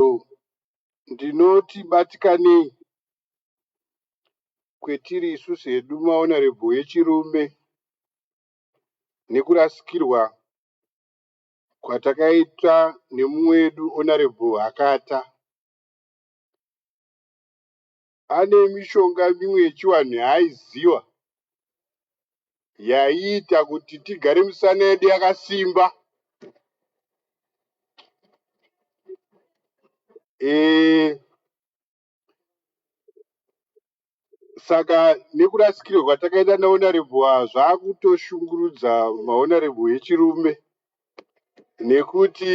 Ndizvo ndinoti batikanei kwetiri isusu hedu maonarebho echirume nekurasikirwa kwatakaitwa nemumwe wedu Onarebho Hakata. Pane mishonga mimwe yechivanhu yaaiziva yaiita kuti tigare misana yedu yakasimba. E, saka nekurasikirwa kwatakaita nahonorable ava zvakutoshungurudza mahonorable echirume nekuti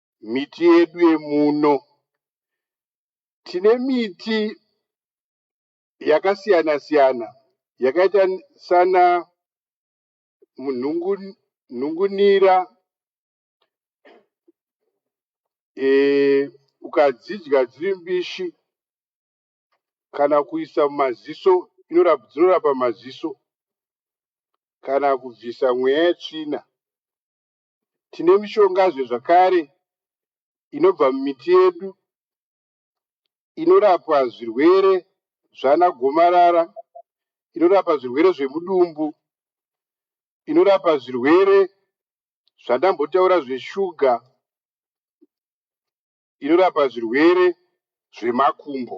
miti yedu yemuno. Tine miti yakasiyana siyana yakaita sana nhungunira e, ukadzidya dziri mbishi kana kuisa mumaziso dzinorapa maziso kana kubvisa mweya yetsvina Tine mishongazve zvakare inobva mumiti yedu inorapwa zvirwere zvana gomarara, inorapa zvirwere zvemudumbu, inorapa zvirwere zvandambotaura zveshuga, inorapa zvirwere zvemakumbo.